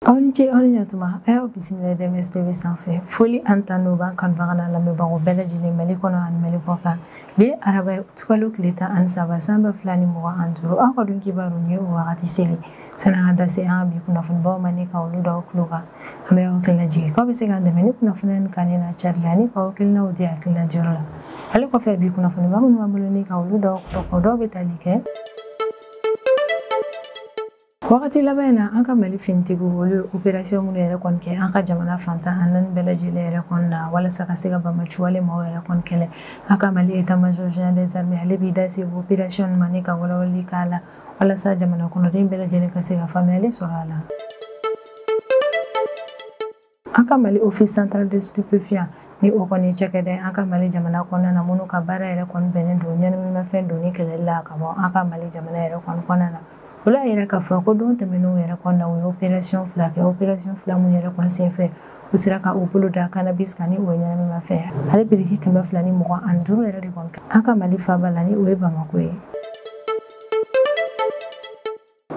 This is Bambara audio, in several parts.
aw ni ce aw ni ɲatuma a y'aw bisimila DMS tv sanfɛ foli ani tanu b'an kanubaga n'an lamɛnbagaw bɛɛ lajɛlen mali kɔnɔ ani mali kɔkan bi ye araba ye utikalo tile tan ani saba san ba fila ni mugan ani duuru aw ka don kibaru ni ye o wagati selen sani an ka da se an ka bi kunnafonibaw ma ni ka olu da aw tulo kan an bɛ aw hakili lajigin k'aw bɛ se k'an dɛmɛ ni kunnafoniya nin kanuni n'a cari la ni k'aw hakilinaw di hakilina diyɔrɔ la ale kɔfɛ bi kunnafoniba minnu b'an bolo ni ka olu da aw tulo kan o dɔw bɛ tali kɛ wagati laban in na an ka mali finitigiw olu ye operasiyɔn minnu yɛrɛ kɔni kɛ an ka jamana fan tan ni naani bɛɛ lajɛlen yɛrɛ kɔni na walasa ka se ka banbaanciwale maaw yɛrɛ kɔni kɛlɛ an ka mali état-major général des armées ale b'i da se operasiyɔn ma ni ka walawalali k'a la walasa jamana kɔnɔden bɛɛ lajɛlen ka se ka faamuyali sɔrɔ a la an ka mali office central de stupéfiant ni o kɔni cakɛda ye an ka mali jamana kɔnɔna na minnu ka baara yɛrɛ kɔni bɛnnen don ɲɛnaminimafɛn donni kɛlɛli la ka bɔ an ka mali jamana yɛrɛ kɔni kɔnɔna na olu y'a yira k'a fɔ ko don tɛmɛnenw yɛrɛ kɔnɔna u ye opération fila kɛ opération fila minnu yɛrɛ kɔni senfɛ u sera ka u bolo da cannabis kan ni o ye ɲɛnaminimafɛn ale biriki kɛmɛ fila ni mugan ani duuru yɛrɛ de kɔni an ka mali faaba la ni o ye bamako ye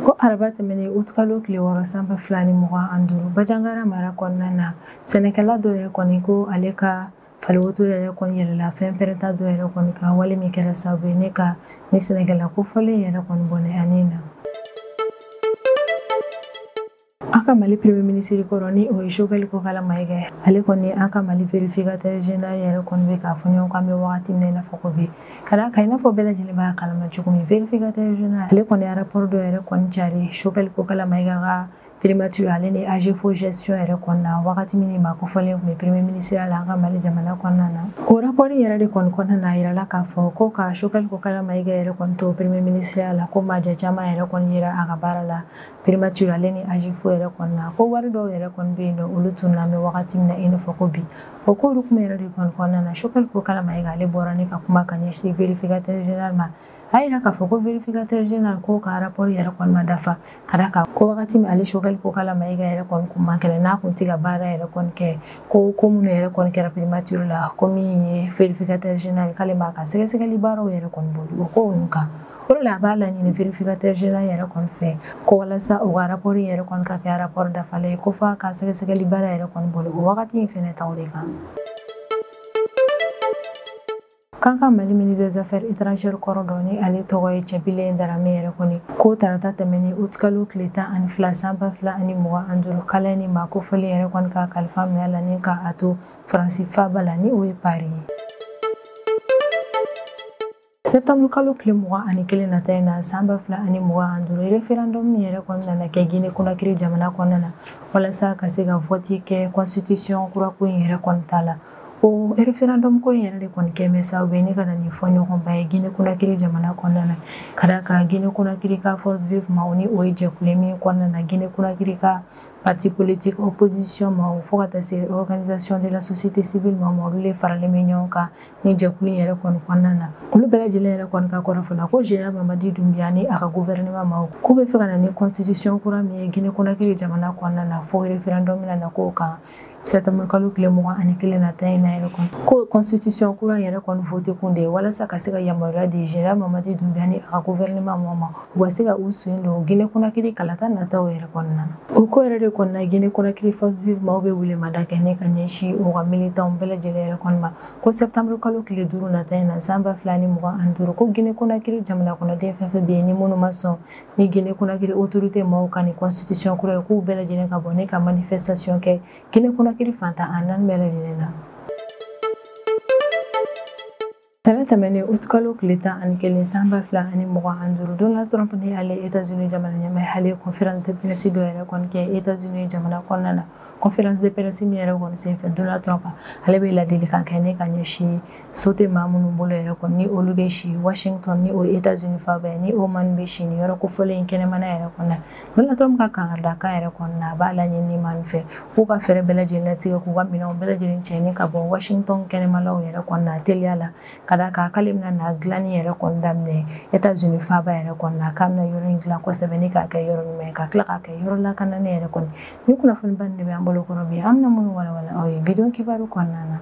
ko araba tɛmɛnen utikalo tile wɔɔrɔ san ba fila ni mugan ani duuru banjagara mara kɔnɔna na sɛnɛkɛla dɔ yɛrɛ kɔni ko ale ka faliwotoro yɛrɛ kɔni yɛlɛla fɛn pɛrɛnta dɔ yɛrɛ kɔni kan wale min kɛra sababu ye ni ka nin sɛnɛkɛla kofɔlen yɛrɛ kɔni bɔnɛ a ni na An ka Mali premier ministre kɔrɔ ni o ye Choguel Kokala Mayiga ye, ale kɔni ni an ka Mali verificateur general yɛrɛ kɔni bɛ ka fɔ ɲɔgɔn kɔ an bɛ wagati min na i n'a fɔ ko bi, ka d'a kan i n'a fɔ bɛɛ lajɛlen b'a kalama cogo min verificateur general ale kɔni ye rapport dɔ yɛrɛ kɔni cari Choguel Kokala Mayiga ka primature ale ni AGEFAU gestion yɛrɛ kɔnɔna na wagati min nin maa kofɔlen tun bɛ premier ministre la an ka Mali jamana kɔnɔna na o rapport yɛrɛ de kɔni kɔnɔna na a yirala k'a fɔ ko ka Choguel Kokala Mayiga yɛrɛ kɔni to premier ministre la ko maaja caman yɛrɛ kɔni yera a ka baara la primature ale ni AGEFAU yɛrɛ kɔnɔna na ko wari dɔw yɛrɛ kɔni bɛ yen n'olu tununna an bɛ wagati min na i n'a fɔ ko bi o k'olu kuma yɛrɛ de kɔni kɔnɔna na Choguel Kokala Mayiga ale bɔra ni ka kuma ka ɲɛsin verificateur général ma a yira k'a fɔ ko verificateur général k'o ka rapport yɛrɛ kɔni ma dafa ka d'a kan ko wagati min ale Choguel Kokala Mayiga yɛrɛ kɔni kun man kɛnɛ n'a kun tɛ ka baara yɛrɛ kɔni kɛ ko ko minnu yɛrɛ kɔni kɛra primature la ko min ye verificateur général k'ale m'a ka sɛgɛsɛgɛli baaraw yɛrɛ kɔni boli o ko ninnu kan O la a b'a laɲini vérificateur général yɛrɛ kɔni fɛ ko walasa o ka rapport in yɛrɛ kɔni ka kɛ rapport dafalen ye ko f'a ka sɛgɛsɛgɛli baara yɛrɛ kɔni boli o wagati in fɛnɛ taw de kan. K'an ka Mali ministre des Affaires étrangères kɔrɔ dɔ ni ale tɔgɔ ye Cɛbilen Darame yɛrɛ kɔni ko tarata tɛmɛnen août kalo tile tan ani fila san ba fila ani mugan ani duuru k'Ala ye nin maa kofɔlen yɛrɛ kɔni ka kalifa minɛ a la ni ka a to Faransi faaba la ni o ye Paris ye. Septembre kalo tile mugan ani kelen nata in na san ba fila ani mugan ani duuru referendum min yɛrɛ kɔni nana kɛ Guinée Conakry jamana kɔnɔna na walasa ka se ka vote kɛ constitution kura ko in yɛrɛ kɔni ta la o referendum ko in yɛrɛ de kɔni kɛ bɛ sababu ye ne ka na ni fɔ ɲɔgɔnba ye Guinée Conakry jamana kɔnɔna na ka d'a kan Guinée Conakry ka force vive maaw ni o ye jɛkulu min kɔnɔna na Guinée Conakry ka parti politique opposition maaw fo ka taa se organisation de la société civile maaw olu de faralen bɛ ɲɔgɔn kan ni jɛkulu yɛrɛ kɔni kɔnɔna na olu bɛɛ lajɛlen yɛrɛ kɔni ka kɔrɔfɔ la ko général Mamadi Doumbouya ni a ka gouvernement maaw k'u bɛ fɛ ka na ni constitution kura min ye guinée conakry jamana kɔnɔna na fo référendum bɛna na k'o kan septembre kalo tile mugan ani kelen nata in na yɛrɛ kɔni ko constitution kura yɛrɛ kɔni vote kun de ye walasa ka se ka yamaruya di général Mamadi Doumbouya ni a ka gouvernement maaw ma u ka se ka u sen don guinée conakry kalata nataw yɛrɛ kɔnɔna o ko yɛrɛ de kɔnɔna guinée conakry force vive maaw bɛ welemada kɛ ne ka ɲɛsin u ka militanw bɛɛ lajɛlen yɛrɛ kɔni ma ko septembre kalo tile duuru nata in na san ba fila ni mugan ani duuru ko gine konakiri jamana kɔnɔden fɛn fɛn bɛ yen ni minnu ma sɔn ni gine konakiri autorité maaw ka nin constitution kura ye k'u bɛɛ lajɛlen ka bɔ ne ka manifestation kɛ gine konakiri fan tan ni naani bɛɛ lajɛlen na Ntɛnɛn tɛmɛnen août kalo tile tan ani kelen san ba fila ani mugan ani duuru Donald Trump ni ale Etats-Unis jamana ɲɛmaa ye ale conférence de presse dɔ yɛrɛ kɔni kɛ Etats-Unis jamana kɔnɔna na conférence de presse min yɛrɛ kɔni senfɛ Donald Trump ale bɛ ladilikan kɛ ne ka ɲɛsin so tɛ maa minnu bolo yɛrɛ kɔni ni olu bɛ si washington ni o ye états unis faaba ye ni o maaw bɛ si ni yɔrɔ kofɔlen in kɛnɛmana yɛrɛ kɔnɔna Donald Trump ka kangaridakan yɛrɛ kɔnɔna a b'a laɲini maaw fɛ k'u ka fɛɛrɛ bɛɛ lajɛlen latigɛ k'u ka minɛnw bɛɛ lajɛlen cɛ ni ka bɔ washington kɛnɛmalaw yɛrɛ kɔnɔna teliya la ka da kan k'ale bɛna na dilanni yɛrɛ kɔni daminɛ états unis faaba yɛrɛ kɔnɔna k'a bɛna yɔrɔ in dilan kosɛbɛ ni k'a kɛ yɔrɔ ɲuman ye ka tila k'a kɛ yɔrɔ lakananen yɛrɛ kɔni Ni kunnafoni ba de bɛ an bolo kɔnɔ bi an na minnu walawala aw ye bi don kibaru kɔnɔna na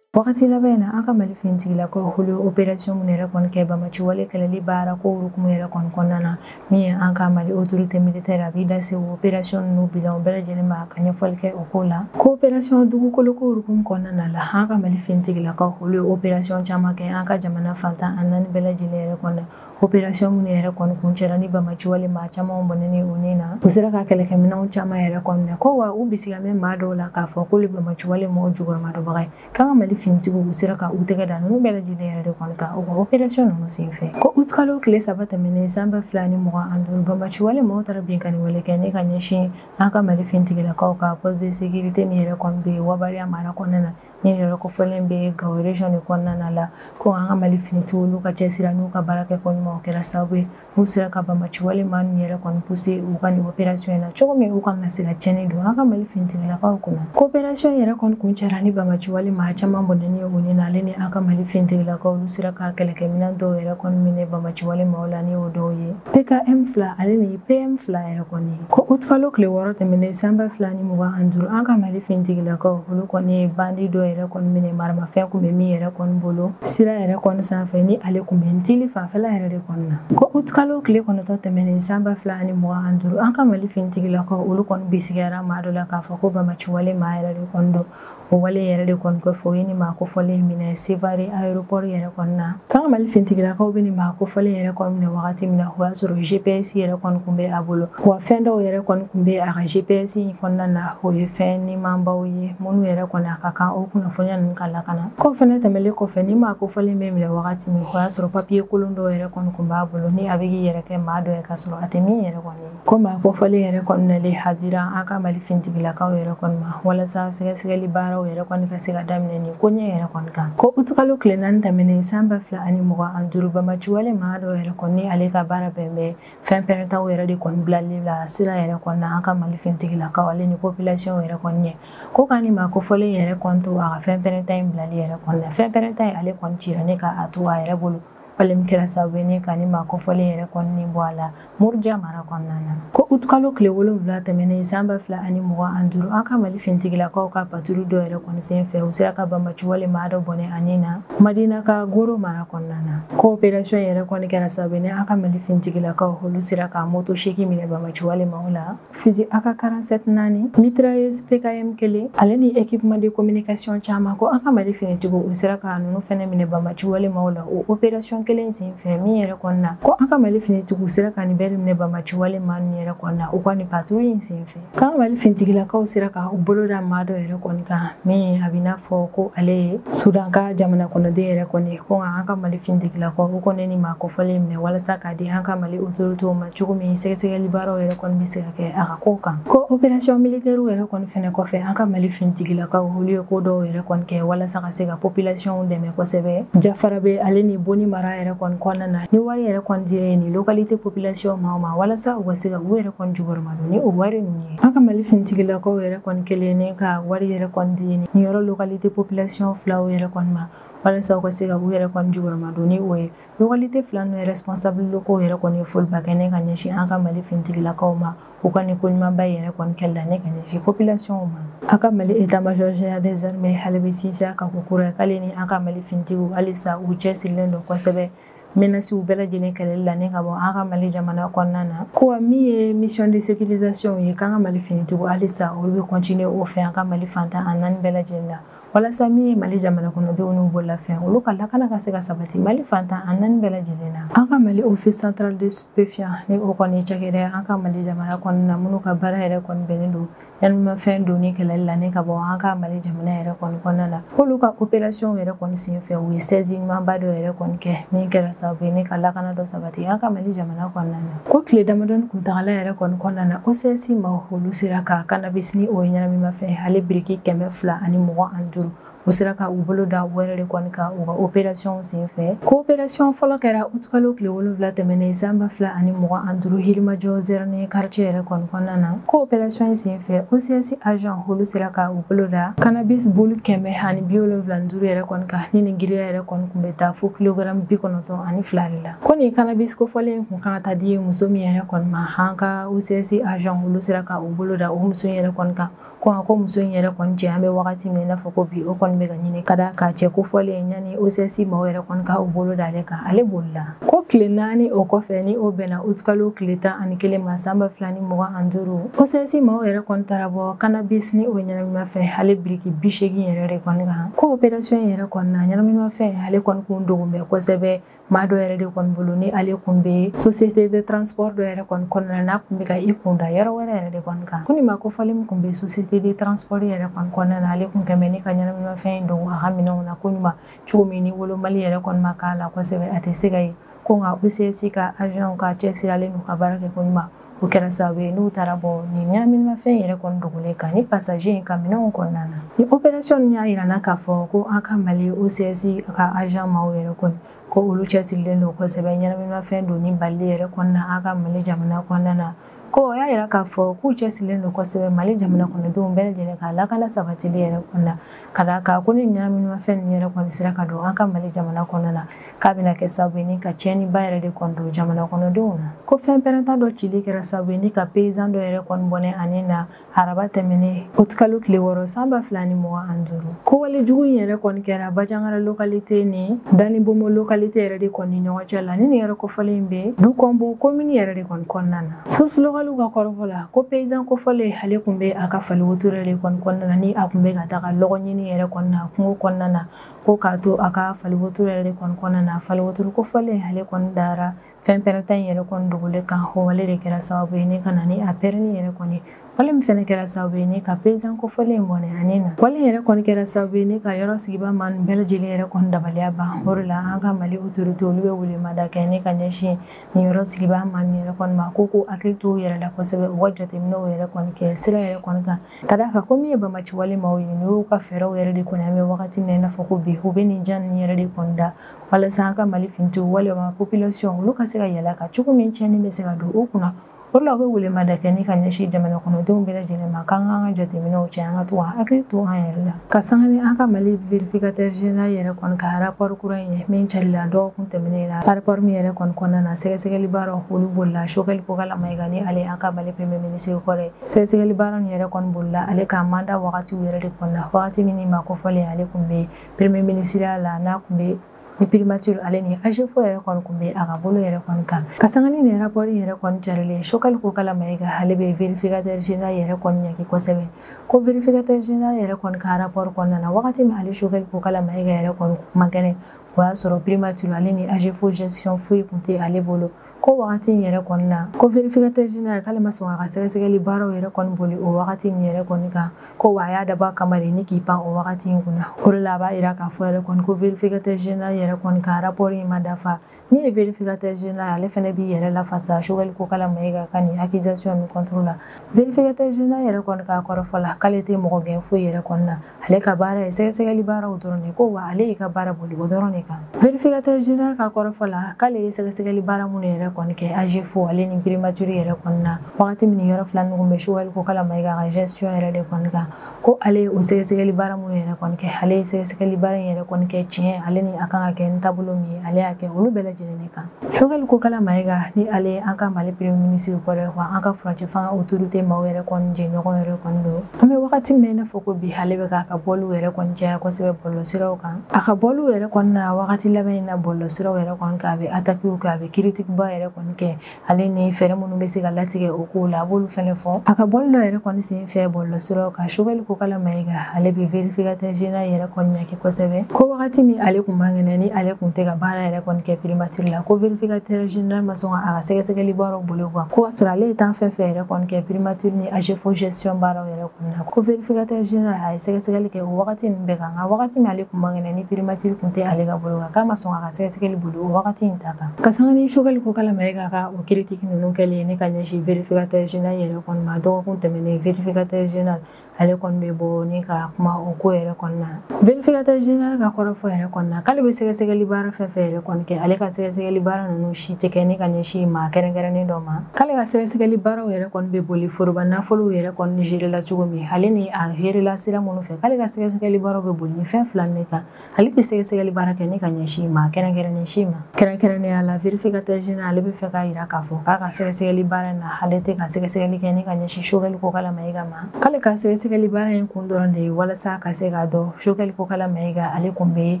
wagati laban na an ka mali finitigilakaw olu operasiyɔn minnu yɛrɛ kɔni kɛ banbaanci wale kɛlɛli baara ko hukumu yɛrɛ kɔni kɔnɔna na min ye an ka mali otorite militɛrɛ a b'i da se o operasiyɔn ninnu bilan bɛɛ lajɛlen ma ka ɲɛfɔli kɛ o ko la ko operasiyɔn dugukolo ko hukumu kɔnɔna na la an ka mali finitigilakaw olu ye operasiyɔn caman kɛ an ka jamana fan tan ni naani bɛɛ lajɛlen yɛrɛ kɔnɔ opération minnu yɛrɛ kɔni kuncɛla ni banbaanci wale maa caman bɔnɛnen u ni na u sera ka kɛlɛkɛminɛnw caman yɛrɛ kɔnɔ ko wa u bisigi bɛ maa dɔw la k'a fɔ k'olu banbaanci wale maaw jukɔrɔmadonbaga ye k'an ka mali finitigiw u sera ka u tɛgɛ da ninnu bɛɛ lajɛlen yɛrɛ de kɔni kan o opération ninnu senfɛ ko août kalo tile saba tɛmɛnen san ba fila ni mugan ani duuru banbaanci wale maaw taara binkanni wale kɛ ne ka ɲɛsin an ka mali finitigilakaw ka poste de sécurité min yɛrɛ kɔni bɛ yen waya mara kɔnɔna na min yɛrɛ kofɔlen bɛ gawo region de kɔnɔna na la ko an ka mali finitigiw n'u ka cɛsiri n'u ka baara kɛ ko ɲuman o kɛra sababu ye n'u sera ka bamaci wale maa ninnu yɛrɛ kɔni pousser u ka nin opération in na cogo min u kana se ka tiɲɛni don an ka mali finitigilakaw kunna ko opération yɛrɛ kɔni kuncɛra ni bamaci wale maa caman bɔnɛni ye o ni na ale ni an ka mali finitigilakaw olu sera ka kɛlɛkɛminɛn dɔw yɛrɛ kɔni minɛ bamaci wale maaw la ni o dɔw ye PKM fila ale ni PM fila yɛrɛ kɔni ko utkalo tile wɔɔrɔ tɛmɛnen san ba fila ni mugan ani duuru an ka mali fintigilakaw olu kɔni ye bandi dɔ yɛrɛ kɔni minɛ maramafɛn kun bɛ min yɛrɛ kɔni bolo sira yɛrɛ kɔni sanfɛ ni ale kun bɛ ntili fanfɛla yɛrɛ de kɔni na ko utkalo tile kɔnɔtɔ tɛmɛnen san ba fila ani mugan ani duuru an ka mali fintigilakaw olu kɔni bisigiyara maa dɔ la k'a fɔ ko bamaci wale maa yɛrɛ de kɔni don o wale yɛrɛ de kɔni kɔfɛ o ye nin maa kofɔlen minɛ sevare aéroport yɛrɛ kɔni na k'an ka mali fintigilakaw bɛ nin maa kofɔlen yɛrɛ kɔni minɛ wagati min na o y'a sɔrɔ gps yɛrɛ kɔni kun bɛ a bolo wa fɛn dɔw yɛrɛ kɔni kun bɛ a ka gps in kɔnɔna na o ye fɛn nimanbaw ye minnu yɛrɛ kɔni a ka kan o kunnafoniya ninnu ka lakana k'o fɛnɛ tɛmɛlen kɔfɛ ni maa kofɔlen bɛ minɛ wagati min o y'a sɔrɔ papiye kolon dɔw yɛrɛ kɔni kun b'a bolo ni a bɛ k'i yɛrɛ kɛ maa dɔ ye k'a sɔrɔ a tɛ min yɛrɛ kɔni Ko maa kofɔlen yɛrɛ kɔni nalen a dira an ka mali fintigilakaw yɛrɛ kɔni ma walasa sɛgɛsɛgɛli baaraw yɛrɛ kɔni ka se ka daminɛ nin koɲɛ yɛrɛ kɔni kan ko utukalo tile naani tɛmɛnen san ba fila ani mugan an duuru bamaci wale maa dɔ yɛrɛ kɔni ale ka baara bɛn bɛ fɛn pɛrɛntaw yɛrɛ de kɔni bilali la sira yɛrɛ kɔni na an ka mali fintigilakaw ale ni popilasiyɔn yɛrɛ kɔni ɲɛ ko ka nin maa kofɔlen yɛrɛ kɔni to a ka fɛn pɛrɛnta in bilali yɛrɛ kɔni na fɛn pɛrɛnta in ale kɔni cira ne k'a to a yɛrɛ bolo wale min kɛra sababu ye ne ka ni maa kofɔlen yɛrɛ kɔni nin bɔ a la muruja mara kɔnɔna na ko utukalo tile wolonwula tɛmɛnen san ba fila ani mugan an duuru an ka mali finitigilakaw ka paturu dɔ yɛrɛ kɔni sen fɛ u sera ka bamaci wale maa dɔ bɔnɛ a ni na madina kagoro mara kɔnɔna na ko operasiyɔn yɛrɛ kɔni kɛra sababu ye ne an ka mali finitigilakaw olu sera ka moto seegin minɛ bamaci wale maaw la Fusil AK 47 naani mitrailleuse PKM kelen ale ni équipement de communication caman ko an ka Mali finitigiw u sera ka ninnu fɛnɛ minɛ bamaci wale maaw la o opération kelen sen fɛ min yɛrɛ kɔni na ko an ka Mali finitigiw sera ka nin bɛɛ minɛ bamaci wale maa ninnu yɛrɛ kɔni na u ka nin patrouille in sen fɛ k'an ka Mali finitigilakaw sera ka u bolo da maa dɔ yɛrɛ kɔni kan min a bɛ n'a fɔ ko ale ye Sudan ka jamana kɔnɔden yɛrɛ kɔni ko an ka Mali finitigilakaw u kɔni ni maa kofɔlen minɛ walasa k'a di an ka Mali autorités ma cogo min sɛgɛsɛgɛli baaraw yɛrɛ kɔni bɛ se ka kɛ a ka kow kan ko operasiyɔn militɛriw yɛrɛ kɔni fɛnɛ kɔfɛ an ka mali finitigilakaw olu ye ko dɔw yɛrɛ kɔni kɛ walasa ka se ka popilasiyɔnw dɛmɛ kosɛbɛ jafarabɛ ale ni boni mara yɛrɛ kɔni kɔnɔna na ni wari yɛrɛ kɔni dira ye nin lokalite popilasiyɔn ma ma walasa u ka se ka u yɛrɛ kɔni jukɔrɔmadon ni o wari ninnu ye an ka mali finitigilakaw yɛrɛ kɔni kelen ne ka wari yɛrɛ kɔni di ye nin yɔrɔ lokalite popilasiyɔn filaw yɛrɛ kɔni ma walasa u ka se ka u yɛrɛ kɔni jukɔrɔmadon ni o ye Localité fila ninnu responsable locaux yɛrɛ kɔni ye foliba kɛ ni ka ɲɛsin an ka mali finitigilakaw ma u ka nin ko ɲumanba yɛrɛ kɔni kɛli la ni ka ɲɛsin population ma an ka mali état major général des armées ale bɛ sinsin a kan ko kura k'ale ni an ka mali finitigiw halisa u cɛsirilen don kosɛbɛ menacew bɛɛ lajɛlen kɛlɛli la ni ka bɔ an ka mali jamana kɔnɔna na ko min ye mission de sécurisation ye k'an ka mali finitigiw halisa olu bɛ continuer o fɛ an ka mali fan tan ani naani bɛɛ lajɛlen la walasa min ye mali jamana kɔnɔdenw n'u bololafɛn olu ka lakana ka se ka sabati mali fan tan ani naani bɛɛ lajɛlen na an ka mali office central des stupéfiants ni o kɔni cakɛda an ka mali jamana kɔnɔna na minnu ka baara yɛrɛ kɔni bɛnnen don ɲɛnaminimafɛn donni kɛlɛli la ni ka bɔ an ka mali jamana yɛrɛ kɔni kɔnɔna na k'olu ka opération yɛrɛ kɔni sen fɛ u ye saisie ɲumanba dɔ yɛrɛ kɔni kɛ min kɛra sababu ye ni ka lakana dɔ sabati an ka mali jamana kɔnɔna na Ko tile damadɔni kuntagala yɛrɛ kɔni kɔnɔna na OCS maaw olu sera ka cannabis ni o ye ɲɛnaminimafɛn ale biriki kɛmɛ fila ani mugan ani duuru u sera ka u bolo da o yɛrɛ de kɔni kan u ka opération senfɛ ko opération fɔlɔ kɛra utukalo tile wolonfila tɛmɛnen san ba fila ani mugan ani duuru Yirimajɔ Zɛrɛni quartier yɛrɛ kɔni kɔnɔna na ko opération in senfɛ OCS agent olu sera ka u bolo da cannabis bulu kɛmɛ ani bi wolonfila ni duuru yɛrɛ kɔni kan ni nin giriya yɛrɛ kɔni kun bɛ taa fo kilogramme bi kɔnɔntɔn ani fila de la ko nin kanabis kofɔlen kun kan ka taa di muso min yɛrɛ kɔni ma an ka OCS agent olu sera ka u bolo da o muso in yɛrɛ kɔni kan ko a ko muso in yɛrɛ kɔni cɛ an bɛ wagati min i n'a fɔ ko bi o kɔni bɛ ka ɲini ka d'a kan cɛ kofɔlen yanni OCS maaw yɛrɛ kɔni ka u bolo da ale kan ale bolila ko tile naani o kɔfɛ ni o bɛnna utikalo tile tan ani kelen ma san ba fila ni mugan ani duuru OCS maaw yɛrɛ kɔni taara bɔ kanabis ni o ɲɛnaminimafɛn ale biriki bi seegin yɛrɛ de kɔni kan ko operasiyɔn yɛrɛ kɔni na ɲɛnaminimafɛn ale kɔni kun dogolen bɛ kosɛbɛ maa dɔ yɛrɛ de kɔni bolo ni ale kun bɛ société de transport dɔ yɛrɛ kɔni kɔnɔna n'a kun bɛ ka i kun da yɔrɔ wɛrɛ yɛrɛ de kɔni kan ko nin maa kofɔlen min kun bɛ société de transport yɛrɛ kɔni kɔnɔna na ale kun kɛ bɛ ni ka ɲɛnaminimafɛn dogo a ka minɛnw na ko ɲuman cogo min ni wolomali yɛrɛ kɔni ma kɛ a la kosɛbɛ a tɛ se ka ye ko nka OCS ka agent ka cɛsirilen n'u ka baara kɛ ko ɲuman o kɛra sababu ye n'u taara bɔ nin ɲɛnaminimafɛn yɛrɛ kɔni dogolen kan ni pasaje in ka minɛnw kɔnɔna na ni operasiyɔn y'a yira na k'a fɔ ko an ka mali OCS ka ajan maaw yɛrɛ kɔni ko olu cɛsirilen don kosɛbɛ ɲɛnaminimafɛn donni bali yɛrɛ kɔnɔna an ka mali jamana kɔnɔna na ko o y'a yira k'a fɔ k'u cɛsirilen don kosɛbɛ mali jamana kɔnɔdenw bɛɛ lajɛlen ka lakana sabatili yɛrɛ kɔnɔna Ka da a kan ko ni ɲɛnaminimafɛn ninnu yɛrɛ kɔni sera ka don an ka Mali jamana kɔnɔ na, k'a bɛna kɛ sababu ye ni ka tiɲɛniba yɛrɛ de kɔni don jamana kɔnɔdenw na. Ko fɛn pɛrɛnta dɔ cili kɛra sababu ye ni ka paysan dɔ yɛrɛ kɔni bɔnɛ a ni na araba tɛmɛnen août kalo tile wɔɔrɔ san ba fila ni mugan ani duuru. Ko wale jugu in yɛrɛ kɔni kɛra Banjagara localité ni Danibomo localité yɛrɛ de kɔni ni ɲɔgɔn cɛ la, ni nin yɔrɔ kofɔlen in bɛ Dukɔnbo commune yɛrɛ de kɔni kɔnɔna na. Source localew ka kɔrɔfɔ la ko paysan kofɔlen ale kun bɛ a ka fali wotoro de kɔni kɔnɔna na ni a kun bɛ ka taa dɔgɔ ɲini yɛrɛ kɔnɔna na kungo kɔnɔna na ko k'a to a ka fali wotoro yɛrɛ de kɔni kɔnɔna na fali wotoro kofɔlen ale kɔni dara fɛn pɛrɛnta in yɛrɛ kɔni dogolen kan o wale de kɛra sababu ye ni ka na ni a pɛrɛnni yɛrɛ kɔni wale min fɛnɛ kɛra sababu ye ni ka paysan kofɔlen in bɔnɛ a ni na wale yɛrɛ kɔni kɛra sababu ye ni ka yɔrɔ sigibaa maa nin bɛɛ lajɛlen yɛrɛ kɔni dabaliya ban o de la an ka Mali autorité olu bɛ welemada kɛ ni ka ɲɛsin nin yɔrɔ sigibaa maa nin yɛrɛ kɔni ma ko k'u hakili to u yɛrɛ la kosɛbɛ u ka jateminɛw yɛrɛ kɔni kɛ sira yɛrɛ kɔni kan ka d'a kan ko min ye bamaci wale maaw ye n'u y'u ka fɛɛrɛw yɛrɛ de kɔni an bɛ wagati min na i n'a fɔ ko bi u bɛ nin jan ninnu yɛrɛ de kɔni da walasa an ka Mali finitiw walima population olu ka se ka yɛlɛ a kan cogo min cɛnni bɛ se ka don u kunna O la u bɛ welemada kɛ ni ka ɲɛsin jamana kɔnɔdenw bɛɛ lajɛlen ma k'an k'an ka jateminɛw cɛ an ka to k'an hakili to an yɛrɛ la ka sanga ni an ka Mali vérificateur général yɛrɛ kɔni ka rapport kura in ye min carila dɔgɔkun tɛmɛnen na rapport min yɛrɛ kɔni kɔnɔna na sɛgɛsɛgɛli baaraw olu bolila Choguel Kokalla Maïga ni ale an ka Mali premier ministre kɔrɔ sɛgɛsɛgɛli baara nin yɛrɛ kɔni bolila ale ka mandat wagatiw yɛrɛ de kɔnɔna na wagati min ni maa kofɔlen ale kun bɛ premier ministre la n'a kun bɛ ni primature ale ni AGEFAU yɛrɛ kɔni kun bɛ a ka bolo yɛrɛ kɔni kan ka sanga ni nin rapport yɛrɛ kɔni carilen Choguel Kokalla Maïga ale bɛ vérificateur général yɛrɛ kɔni ɲɛki kosɛbɛ ko vérificateur général yɛrɛ kɔni ka rapport kɔnɔna na wagati min ale Choguel Kokalla Maïga yɛrɛ kɔni kun man kɛnɛ o y'a sɔrɔ primature ale ni AGEFAU gestion foyi kun tɛ ale bolo ko wagati in yɛrɛ kɔni na ko vérificateur général k'ale ma sɔn a ka sɛgɛsɛgɛli baaraw yɛrɛ kɔni boli o wagati in yɛrɛ kɔni kan ko wa a y'a dabɔ a kama de ni k'i pan o wagati in kunna o de la a b'a yira k'a fɔ yɛrɛ kɔni ko vérificateur général yɛrɛ kɔni ka rapport in ma dafa min ye vérificateur général ale fɛnɛ b'i yɛrɛ lafasa Choguel Kokalla Maïga ka nin accusation nin contre la vérificateur général yɛrɛ kɔni ka kɔrɔfɔ la k'ale tɛ mɔgɔ gɛn foyi yɛrɛ kɔni na ale ka baara ye sɛgɛsɛgɛli baaraw dɔrɔn de ko wa ale y'i ka baara boli o dɔrɔn de kan vérificateur général ka kɔrɔfɔ la k'ale ye sɛgɛsɛgɛli baara minnu yɛrɛ kɔni kɛ AGEFAU ale ni primature yɛrɛ kɔni na wagati min yɔrɔ fila ninnu bɛ Choguel Kokalla Maïga ka gestion yɛrɛ de kɔni kan ko ale ye o sɛgɛsɛgɛli baara minnu yɛrɛ kɔni kɛ ale ye sɛgɛsɛgɛli baara in yɛrɛ kɔni kɛ tiɲɛ ale ni a kan ka kɛ ni taabolo min ye ale y'a kɛ olu bɛɛ lajɛlen de kan Choguel Kokalla Maïga ni ale ye an ka Mali premier ministre kɔrɔ ye wa an ka furancɛ fanga autorité maaw yɛrɛ kɔni jɛɲɔgɔn yɛrɛ kɔni don an bɛ wagati min na i n'a fɔ ko bi ale bɛ k'a ka bɔliw yɛrɛ kɔni caya kosɛbɛ bɔlɔlɔsiraw kan a ka bɔliw yɛrɛ kɔni na wagati laban in na bɔlɔlɔsiraw yɛrɛ kɔni kan a bɛ attaquew kɛ a bɛ critique ba yɛrɛ kɔni kɛ ale ni fɛɛrɛ minnu bɛ se ka latigɛ o kow la a b'olu fɛnɛ fɔ a ka bɔli dɔ yɛrɛ kɔni sen fɛ bɔlɔlɔsiraw kan Choguel Kokalla Maïga ale bɛ vérificateur général yɛrɛ kɔni ɲɛ kosɛbɛ ko wagati min ale kun man kɛnɛ ni ale kun tɛ ka baara yɛrɛ kɔni kɛ primature la ko vérificateur général ma sɔn ka a ka sɛgɛsɛgɛli baaraw boli o kan ko ka sɔrɔ ale ye temps fɛn fɛn yɛrɛ kɔni kɛ primature ni agefo gestion baaraw yɛrɛ kɔni na ko vérificateur général a ye sɛgɛsɛgɛli kɛ o wagati ninnu bɛɛ kan nka wagati min ale kun man kɛnɛ ni primature kun tɛ ale ka bolo kan k'a ma sɔn k'a ka sɛgɛsɛgɛli boli o wagati in ta kan ka sanga ni sogɛli kokala mayiga ka o critique ninnu kɛlen ni ka ɲɛsin vérificateur général yɛrɛ kɔni ma dɔgɔkun tɛmɛnen vérificateur général ale kɔni bɛ bɔ ni ka kuma o ko yɛrɛ kɔni na vérificateur général ka kɔrɔfɔ yɛrɛ kɔni na k'ale bɛ sɛgɛsɛgɛli baara fɛn fɛn yɛrɛ kɔni kɛ ale ka sɛgɛsɛgɛli baara ninnu si tɛ kɛ ni ka ɲɛsin maa kɛrɛnkɛrɛnnen dɔ ma k'ale ka sɛgɛsɛgɛli baaraw yɛrɛ kɔni bɛ boli foroba nafolow yɛrɛ kɔni gerela cogo min ale ni a gerela sira minnu fɛ k'ale ka sɛgɛsɛgɛli baaraw bɛ boli ni fɛn fila ne kan ale tɛ sɛgɛsɛgɛli baara kɛ ni ka ɲɛsin maa kɛrɛnkɛrɛnnen si ma kɛrɛnkɛrɛnnenya la vérificateur général ale bɛ fɛ k'a yira k'a fɔ k'a ka sɛgɛsɛgɛli baara in na ale tɛ ka sɛgɛsɛgɛli kɛ ni ka ɲɛsin sogɛli kokala mayiga ma k'ale ka sɛgɛsɛgɛli baara in kun dɔrɔn de ye walasa ka se k'a dɔn sogɛli kokala mayiga ale kun bɛ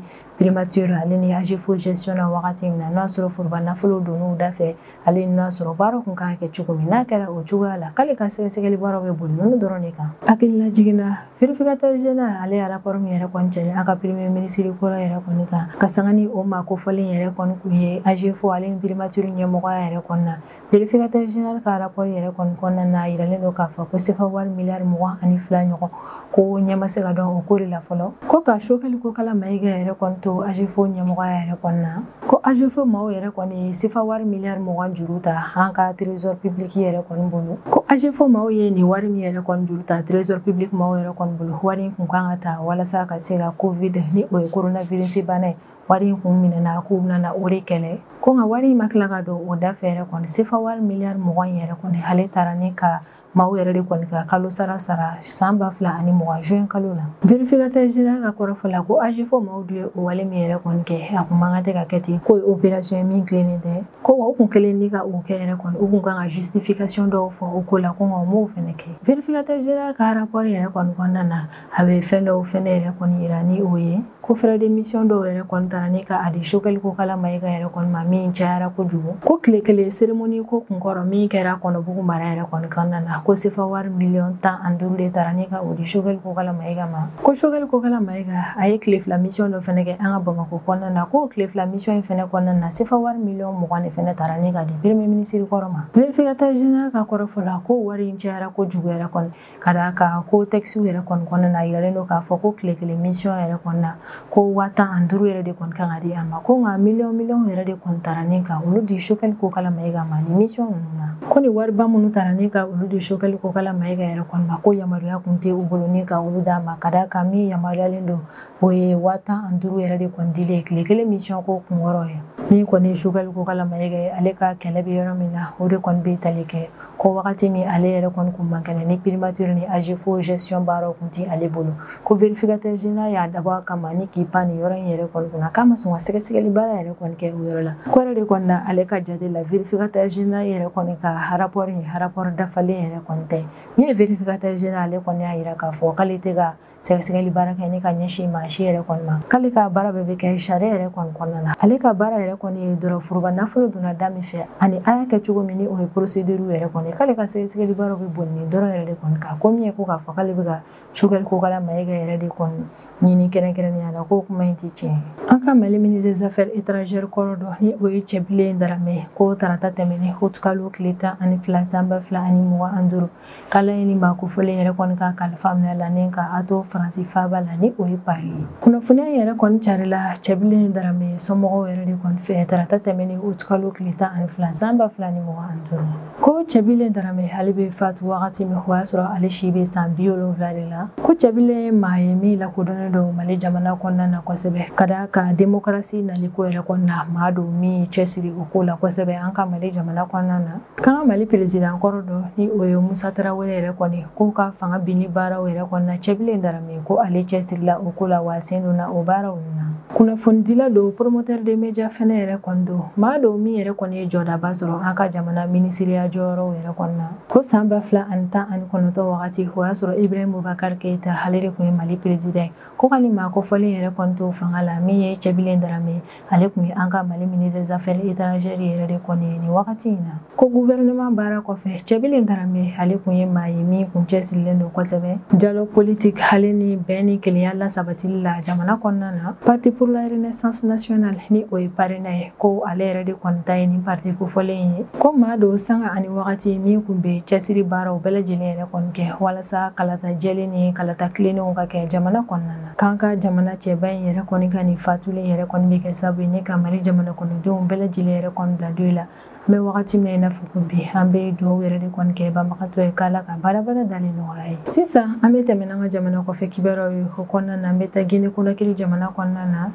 primature ale ni AGEFO gestion na wagati min na n'o y'a sɔrɔ foroba nafolo donn'u da fɛ ale n'o y'a sɔrɔ baara kun kan ka kɛ cogo min n'a kɛra o cogoya la k'ale ka sɛgɛsɛgɛli baaraw bɛ boli ninnu dɔrɔn de kan hakilila jiginna vérificateur général ale y'a rapport min yɛrɛ kɔni kɛlen an ka premier ministre kɔrɔ yɛrɛ kɔni kan ka sanga ni o maa kofɔlen yɛrɛ kɔni kun ye agefo ale ni primature ɲɛmɔgɔya yɛrɛ kɔni na vérificateur général ka rapport yɛrɛ kɔni kɔnɔna na a yiralen don k'a fɔ ko sefa wari miliyari mugan ani fila ɲɔgɔn ko ɲɛ ma se ka dɔn o ko de la fɔlɔ ko ka sogɛli kokala mayiga yɛrɛ kɔni to agefo ɲɛmɔgɔya yɛrɛ kɔni na ko agefo maaw yɛrɛ kɔni ye sefa wari miliyari mugan juru ta an ka trésor public yɛrɛ kɔni bolo ko agefo maaw ye nin wari min yɛrɛ kɔni juru ta trésor public maaw yɛrɛ kɔni bolo wari in kun kan ka ta walasa ka se ka covid ni o ye coronavirus bana ye wari in kun minɛna k'u bɛna o de kɛlɛ ko nka wari in ma tila ka don o da fɛ yɛrɛ kɔni sefa wari miliyari mugan yɛrɛ kɔni ale tara ni ka Maaw yɛrɛ de kɔni ka kalo sara sara san ba fila ani mugan juin kalo la vérificateur général ka kɔrɔfɔ la ko agefo maaw de ye o wale min yɛrɛ kɔni kɛ a kun man kan tɛ ka kɛ ten k'o ye opération ye min tilennen tɛ ko u kun kɛlen ni ka o kɛ yɛrɛ kɔni u kun kan ka justification dɔw fɔ o ko la ko u m'o fɛnɛ kɛ vérificateur général ka rapport yɛrɛ kɔni kɔnɔna na a bɛ fɛn dɔw fɛnɛ yɛrɛ kɔni yira ni o ye ko frais de mission dɔw yɛrɛ kɔni tara ni ka a di sogɛli kokala mayiga yɛrɛ kɔni ma min cayara kojugu ko tile kelen cérémonie ko kunkɔrɔ min kɛra kɔnɔbugu mara yɛrɛ kɔni kɔnɔna na ko sefa wari miliyɔn tan ani duuru de tara ni ka o di sogɛli kokala mayiga ma ko sogɛli kokala mayiga a ye tile fila mission dɔ fɛnɛ kɛ an ka bamako kɔnɔna na k'o tile fila mission in fɛnɛ kɔnɔna na sefa wari miliyɔn mugan de fɛnɛ tara ni ka di premier minisiri kɔrɔ ma vérificateur général ka kɔrɔfɔ la ko wari in cayara kojugu yɛrɛ kɔni ka d'a kan ko tɛkisiw yɛrɛ kɔni kɔnɔna na a yiralen don k'a fɔ ko tile kelen misiyɔn yɛrɛ kɔnɔna na ko waa tan ani duuru yɛrɛ de kɔni kan ka di a ma ko nka miliyɔn miliyɔn yɛrɛ de kɔni tara ni ka olu di choguel kokala mayiga ma nin misiyɔn ninnu na ko nin wariba minnu tara ni ka olu di choguel kokala mayiga yɛrɛ kɔni ma ko yamaruya kun tɛ u bolo ni ka olu d'a ma ka d'a kan min yamaruyalen don o ye waa tan ani duuru yɛrɛ de kɔni dilen tile kelen misiyɔn ko kunkɔrɔ ye min kɔni ye choguel kokala mayiga ye ale ka kɛlɛ bɛ yɔrɔ min na o de kɔni bɛ tali kɛ ko wagati min ale yɛrɛ kɔni kun man kɛnɛ ni primature ni AGEFAU gestion baaraw kun tɛ ale bolo ko vérificateur général y'a dabɔ a kama ni k'i pan nin yɔrɔ in yɛrɛ kɔni kunna k'a ma sɔn ka sɛgɛsɛgɛli baara yɛrɛ kɔni kɛ o yɔrɔ la k'o yɛrɛ de kɔni na ale ka jate la vérificateur général yɛrɛ kɔni ka rapport ye rapport dafalen yɛrɛ kɔni tɛ min ye vérificateur général ale kɔni y'a jira k'a fɔ k'ale tɛ ka sɛgɛsɛgɛli baara kɛ ni ka ɲɛsin maa si yɛrɛ kɔni ma k'ale ka baara bɛɛ bɛ kɛ sariya yɛrɛ kɔni kɔnɔna na ale ka baara yɛrɛ kɔni ye dɔrɔn foroba nafolo donna da min fɛ ani a y'a kɛ cogo min ni o ye procédurew yɛrɛ kɔni k'ale ka sɛgɛsɛgɛli baaraw bɛ boli nin dɔrɔn yɛrɛ de kɔni kan ko min ye ko k'a fɔ k'ale bɛ ka choguel kokala mayiga yɛrɛ de kɔni ɲini kɛrɛnkɛrɛnnenya la k'o kuma in tɛ tiɲɛ ye an ka mali ministre des affaires étrangères kɔrɔ dɔ ni o ye cɛbilen darame ko tarata tɛmɛnen utikalo tile tan ani fila san ba fila ani mugan ani duuru k'ala ye nin maa kofɔlen yɛrɛ kɔni ka kalifa minɛ la ni ka a to faransi faaba la ni o ye pari ye kunnafoniya yɛrɛ kɔni carila cɛbilen darame somɔgɔw yɛrɛ de kɔni fɛ tarata tɛmɛnen utikalo tile tan ani fila san ba fila ni mugan ani duuru ko cɛbilen darame ale bɛ fatu wagati min o y'a sɔrɔ ale si bɛ san bi wolonwula de la ko cɛbilen ye maa ye min lakodɔnnen don mali jamana kɔnɔna na kosɛbɛ ka d'a kan demokarasi naliko yɛrɛ kɔnɔna maa don min cɛsiri o ko la kosɛbɛ an ka mali jamana kɔnɔna na K'an ka Mali perezidan kɔrɔ dɔ ni o ye Musa Tarawele yɛrɛ kɔni k'o ka fanga binni baaraw yɛrɛ kɔnɔna cɛbilen darame ko ale cɛsirila o ko la wa a sen donna o baaraw na. Kunnafonidila don promoteur de média fɛnɛ yɛrɛ kɔni don maa don min yɛrɛ kɔni ye jɔdaba sɔrɔ an ka jamana minisiriya jɔyɔrɔw yɛrɛ kɔnɔna ko san ba fila ani tan ani kɔnɔtɔ wagati o y'a sɔrɔ Ibrahim Boubacar Keita ale de kun ye Mali perezidan ko ka nin maa kofɔlen yɛrɛ kɔni to fanga la min ye cɛbilen darame ale kun ye an ka mali ministre des affaires étrangères yɛrɛ de kɔni ye nin wagati in na ko gouvernement baara kɔfɛ cɛbilen darame ale kun ye maa ye min kun cɛsirilen don kosɛbɛ dialogue politique ale ni bɛn ni kelenya lasabatili la jamana kɔnɔna na parti pour la renaissance nationale ni o ye parena ye ko ale yɛrɛ de kɔni ta ye nin parti kofɔlen ye ko maa don sanga ani wagati min kun bɛ cɛsiri baaraw bɛɛ lajɛlen yɛrɛ kɔni kɛ walasa kalata jɛlen ni kalata tilennenw ka kɛ jamana kɔnɔna na K'an ka jamana cɛba in yɛrɛ kɔni ka nin fatuli yɛrɛ kɔni bɛ kɛ sababu ye ni ka Mali jamana kɔnɔdenw bɛɛ lajɛlen yɛrɛ kɔni bila deuil la. An bɛ wagati min na i n'a fɔ ko bi, an bɛ dugawu yɛrɛ de kɔni kɛ banbagatɔ ye k'Ala ka baarabada dalen nɔgɔya ye. Sisan, an bɛ tɛmɛ n'an ka jamana kɔfɛ kibaruyaw ye. O kɔnɔna na, an bɛ taa Guinée Conakry jamana kɔnɔna na.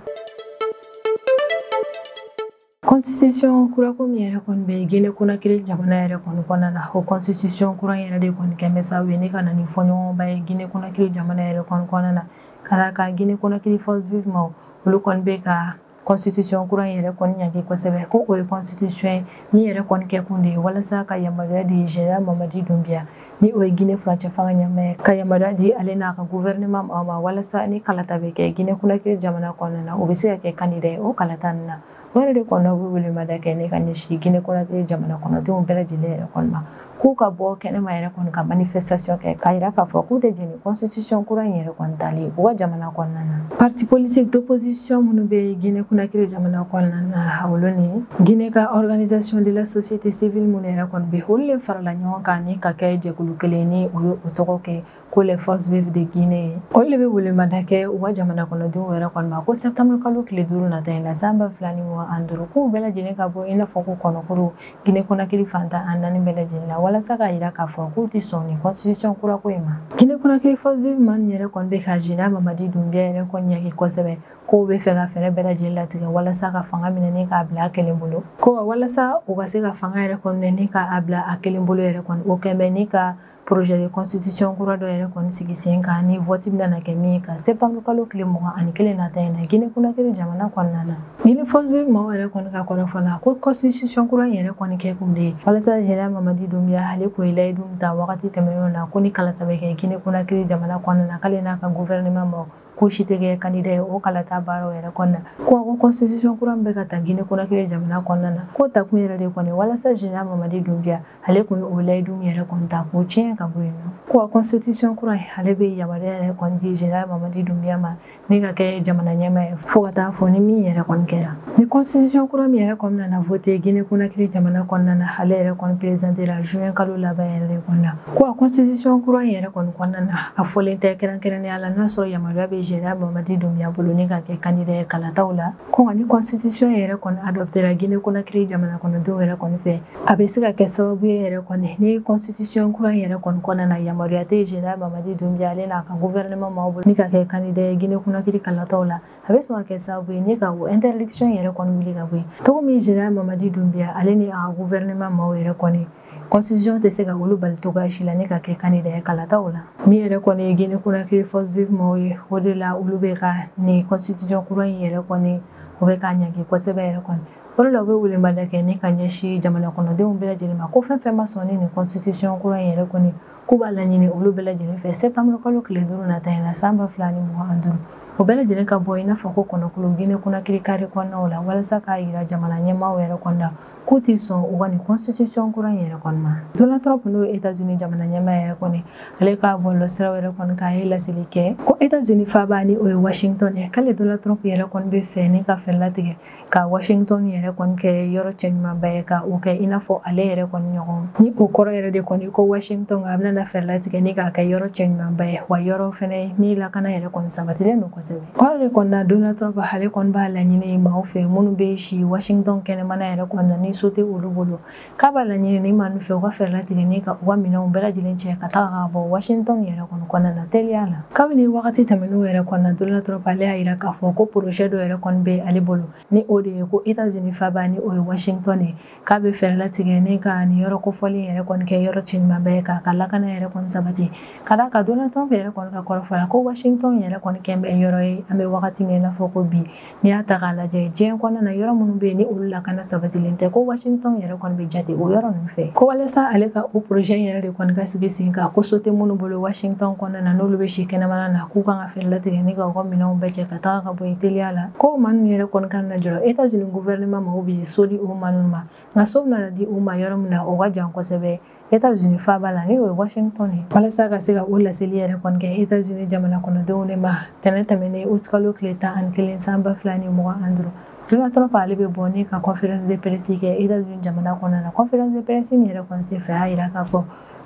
Constitution kura ko min yɛrɛ kɔni bɛ Guinée Conakry jamana yɛrɛ kɔni kɔnɔna na o constitution kura yɛrɛ de kɔni kɛn bɛ sababu ye ni ka na ni fɔɲɔgɔnba ye Guinée Conakry jamana yɛrɛ kɔni kɔnɔna na ka d'a kan Guinée Conakry forces vives maaw olu kɔni bɛ ka constitution kura in yɛrɛ kɔni ɲangi kosɛbɛ ko o ye constitution ye min yɛrɛ kɔni kɛkun de ye walasa ka yamaruya di général Mamadi Doumbouya ni o ye Guinée furancɛ fanga ɲɛmaa ye ka yamaruya di ale n'a ka gouvernement maaw ma walasa ni kalata bɛ kɛ Guinée Conakry jamana kɔnɔna na u bɛ se ka kɛ candidat ye o kalata nin na o yɛrɛ de kɔnɔ u bɛ welemada kɛ ni ka ɲɛsin Guinée Conakry jamana kɔnɔdenw bɛɛ lajɛlen yɛrɛ kɔni ma k'u ka bɔ kɛnɛma yɛrɛ kɔni ka manifestation kɛ k'a jira k'a fɔ k'u tɛ jɛn constitution kura in yɛrɛ kɔni tali u ka jamana kɔnɔna na parti politique d'opposition minnu bɛ guinée Conakry jamana kɔnɔna na olu ni guinée ka organisation de la société civile minnu yɛrɛ kɔni bɛ olu le farala ɲɔgɔn kan ni ka kɛ jɛkulu kelen ni u ye o tɔgɔ kɛ ko les forces vives de guinée ye olu le bɛ welemada kɛ u ka jamana kɔnɔdenw yɛrɛ kɔni ma ko septembre kalo tile duuru nata in na san ba fila ni mugan ani duuru k'u bɛɛ lajɛlen ka bɔ i n'a fɔ ko kɔnɔkulu Guinée Conakry fan tan ni naani bɛɛ lajɛlen la walasa k'a jira k'a fɔ k'u tɛ sɔn nin constitution kura ko in ma. Guinée Conakry Forces Vives maaw yɛrɛ kɔni bɛ ka Général Mamadi Doumbouya yɛrɛ kɔni ɲangi kosɛbɛ k'o b'a fɛ ka fɛɛrɛ bɛɛ lajɛlen latigɛ walasa ka fanga minɛ ni k'a bila a kelen bolo. Ko walasa o ka se ka fanga yɛrɛ kɔni minɛ ni k'a bila a kelen bolo yɛrɛ kɔni o kɛn bɛ ni ka projet de constitution kura dɔ yɛrɛ kɔni sigi sen kan ni vote bɛna na kɛ min kan septembre kalo tile mugan ani kelen nata in na Guinée Conakry jamana kɔnɔna na Guinée forces vives maaw yɛrɛ kɔni ka kɔrɔfɔ la ko constitution kura yɛrɛ kɔni kɛkun de ye walasa général Mamadi Doumbouya ale tun ye layidu min ta wagati tɛmɛnen na ko ni kalata bɛ kɛ Guinée Conakry jamana kɔnɔna na k'ale n'a ka gouvernement maaw k'u si tɛ kɛ candidat ye o kalata baaraw yɛrɛ kɔnɔna na ko ko constitution kura min bɛ ka ta Guinée Conakry jamana kɔnɔna na k'o takun yɛrɛ de kɔni walasa général Mamadi Doumbouya ale tun ye o layidu min yɛrɛ kɔni ta k'o tiɲɛ ka bɔ yen nɔ ko constitution kura in ale bɛ yamaruya yɛrɛ kɔni di général Mamadi Doumbouya ma ni ka kɛ jamana ɲɛmaa ye fo ka taa fo ni min yɛrɛ kɔni kɛra ni constitution kura min yɛrɛ kɔni nana vote Guinée Conakry jamana kɔnɔna na ale yɛrɛ kɔni présentera juin kalo laban yɛrɛ de kɔnɔna Ko a constitution kura in yɛrɛ kɔni kɔnɔna na a fɔlen tɛ kɛrɛnkɛrɛnnenya la n'a sɔrɔ yamaruya bɛ Général Mamadi Doumbouya bolo ni ka kɛ candidat ye kalataw la ko nka ni constitution yɛrɛ kɔni adoptera Guinée Conakry jamana kɔnɔdenw yɛrɛ kɔni fɛ a bɛ se ka kɛ sababu ye yɛrɛ kɔni ni constitution kura in yɛrɛ kɔni kɔnɔna na yamaruya tɛ Général Mamadi Doumbouya ale n'a ka gouvernement maaw bolo ni ka kɛ candidat ye Guinée Conakry kalataw la a bɛ sɔn ka kɛ sababu ye ni ka o interdiction yɛrɛ kɔni wuli ka bɔ yen cogo min Général Mamadi Doumbouya ale ni a ka gouvernement maaw yɛrɛ kɔni constitution tɛ se ka olu bali cogoya si la ni ka kɛ kandida ye kalataw la min yɛrɛ kɔni ye guinee conakry force vive maaw ye o de la olu bɛ ka nin constitution kura in yɛrɛ kɔni o bɛ k'a ɲangi kosɛbɛ yɛrɛ kɔni o de la u bɛ welemada kɛ ni ka ɲɛsin jamana kɔnɔdenw bɛɛ lajɛlen ma ko fɛn fɛn ma sɔn ni nin constitution kura in yɛrɛ kɔni k'u b'a laɲini olu bɛɛ lajɛlen fɛ septembre kalo tile duuru nata in na san ba fila ni mugan ani duuru o bɛɛ lajɛlen ka bɔ i n'a fɔ ko kɔnɔkulu guinee conakry kare kɔnɔnaw la walasa k'a yira jamana ɲɛmaaw yɛrɛ kɔni na k'u tɛ sɔn u ka nin constitution kura in yɛrɛ kɔni ma Donald Trump n'o ye Etats-Unis jamana ɲɛmaa yɛrɛ kɔni ale ka bɔlɔlɔ siraw yɛrɛ kɔni kan a ye laseli kɛ ko Etats-Unis faaba ni o ye Washington ye k'ale Donald Trump yɛrɛ kɔni b'a fɛ ni ka fɛɛrɛ latigɛ ka Washington yɛrɛ kɔni kɛ yɔrɔ cɛɲumanba ye ka o kɛ i n'a fɔ ale yɛrɛ kɔni ɲɔgɔn ni o kɔrɔ yɛrɛ de kɔni ko Washington a bɛna fɛɛrɛ latigɛ ni k'a kɛ yɔrɔ cɛɲumanba ye wa yɔrɔ fɛnɛ min lakana yɛrɛ kɔni sabatilen don kosɛbɛ o de kɔni na Donald Trump ale kɔni b'a laɲini maaw fɛ minnu bɛ si washington kɛnɛmana yɛrɛ kɔni na ni so tɛ olu bolo k'a b'a laɲini nin maaw fɛ u ka fɛɛrɛ latigɛ ni ka u ka minɛnw bɛɛ lajɛlen cɛ ka taga ka bɔ washington yɛrɛ kɔni kɔnɔna na teliya la kabini wagati tɛmɛnenw yɛrɛ kɔni na Donald Trump ale y'a yira k'a fɔ ko projet dɔ yɛrɛ kɔni bɛ ale bolo ni o de ye ko Etats-Unis faaba ni o ye washington ye k'a bɛ fɛɛrɛ latigɛ ni ka nin yɔrɔ kofɔlen yɛrɛ kɔni kɛ yɔrɔ cɛɲumanba ye k'a ka lakana yɛrɛ kɔni sabati ka d'a kan donald trump yɛrɛ kɔni ka kɔrɔfɔ la ko washington yɛrɛ kɔni kɛlen bɛ yɔrɔ ye an bɛ wagati min na i n'a fɔ ko bi n'i y'a ta k'a lajɛ diɲɛ kɔnɔna na yɔrɔ minnu bɛ yen ni olu lakana sabatilen tɛ ko washington yɛrɛ kɔni bɛ jate o yɔrɔ ninnu fɛ ko walasa ale ka o projet yɛrɛ de kɔni ka sigi sen kan ko so tɛ minnu bolo washington kɔnɔna na n'olu bɛ si kɛnɛmana na k'u kan ka fɛɛrɛ latigɛ ni ka u ka minɛnw bɛɛ cɛ ka taga ka bɔ yen teliya la ko maa ninnu yɛrɛ kɔni kana jɔrɔ etats unis gouvernement maaw bɛ so di o maa ninnu ma nka so bɛna di u ma yɔrɔ min na o ka jan kosɛbɛ etats unis faaba la ni o ye washington ye walasa ka se ka o laseli yɛrɛ kɔni kɛ etats unis jamana kɔnɔdenw de ma tɛnɛn tɛmɛnen août kalo tile tan ani kelen san ba fila ni mugan ani duuru Donald Trump ale bɛ bɔ ni ka conférence de presse kɛ États-Unis jamana kɔnɔna na conférence de presse min yɛrɛ kɔni senfɛ a y'a yira k'a fɔ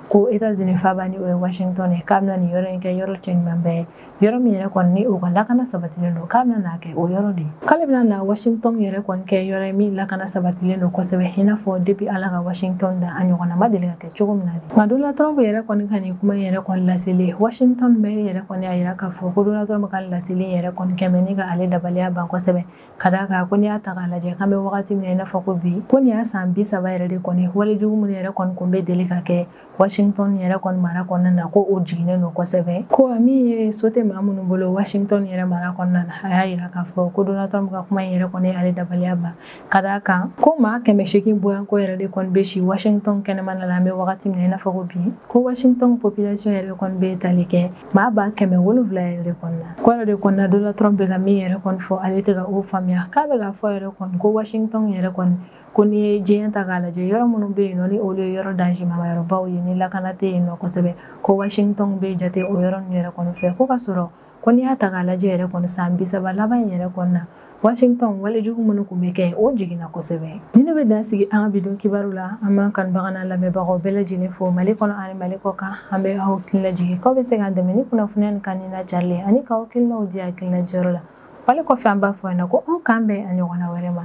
ko États-Unis faaba ni o ye Washington ye k'a bɛna nin yɔrɔ in kɛ yɔrɔ cɛɲumanba ye yɔrɔ min yɛrɛ kɔni ni o ka lakana sabatilen don k'a bɛna kɛ o yɔrɔ de ye k'ale bɛna na washington yɛrɛ kɔni kɛ yɔrɔ ye min lakana sabatilen don kosɛbɛ i n'a fɔ depuis ala ka washington da a ɲɔgɔnna ma deli ka kɛ cogo min na de nka donald trump yɛrɛ kɔni ka nin kuma in yɛrɛ kɔni laseli washington maire yɛrɛ kɔni y'a yira k'a fɔ ko donald trump ka laseli yɛrɛ kɔni kɛmɛ ni ka ale dabaliya ban kosɛbɛ ka d'a kan ko n'i y'a ta k'a lajɛ k'an bɛ wagati min na i n'a fɔ ko bi ko nin y'a san bi saba yɛrɛ de kɔni wale jugu minnu yɛrɛ kɔni kun bɛ deli ka kɛ Washington yɛrɛ kɔni mara kɔnɔna na ko o jiginnen don kosɛbɛ ko min ye so tɛ maa minnu bolo Washington yɛrɛ mara kɔnɔna na a y'a yira k'a fɔ ko Donald Trump ka kuma in yɛrɛ kɔni y'ale dabaliya ban ka d'a kan ko maa kɛmɛ seegin bɔɲɔgɔnko yɛrɛ de kɔni bɛ si Washington kɛnɛmana la an bɛ wagati min na i n'a fɔ ko bi ko Washington population yɛrɛ kɔni bɛ tali kɛ maa ba kɛmɛ wolonwula yɛrɛ de kɔni na k'o yɛrɛ de kɔni na Donald Trump bɛ ka min yɛrɛ kɔni fɔ ale tɛ ka o faamuya k'a bɛ k'a fɔ yɛrɛ kɔni ko Washington yɛrɛ kɔni ko n'i ye diɲɛ ta k'a lajɛ yɔrɔ minnu bɛ yen nɔ ni olu ye yɔrɔ dansimaba yɔrɔbaw ye ni lakana tɛ yen nɔ kosɛbɛ ko washington bɛ jate o yɔrɔ ninnu yɛrɛ kɔni fɛ ko ka sɔrɔ ko n'i y'a ta k'a lajɛ yɛrɛ kɔni san bi saba laban in yɛrɛ kɔnɔna washington walejugu minnu tun bɛ kɛ o jiginna kosɛbɛ nin de bɛ dan sigi an ka bi don kibaru la an b'an kanubagaw n'an lamɛnbagaw bɛɛ lajɛlen fo mali kɔnɔ ani mali kɔkan an bɛ aw hakili lajigin k'aw bɛ se k'an dɛmɛ ni kunnafoniya ni kan ni lajarilen ani k'aw hakilinaw di hakilina diyɔrɔ la wale kɔfɛ an b'a fɔ yan na ko aw k'an bɛn a ɲɔgɔnna wɛrɛ ma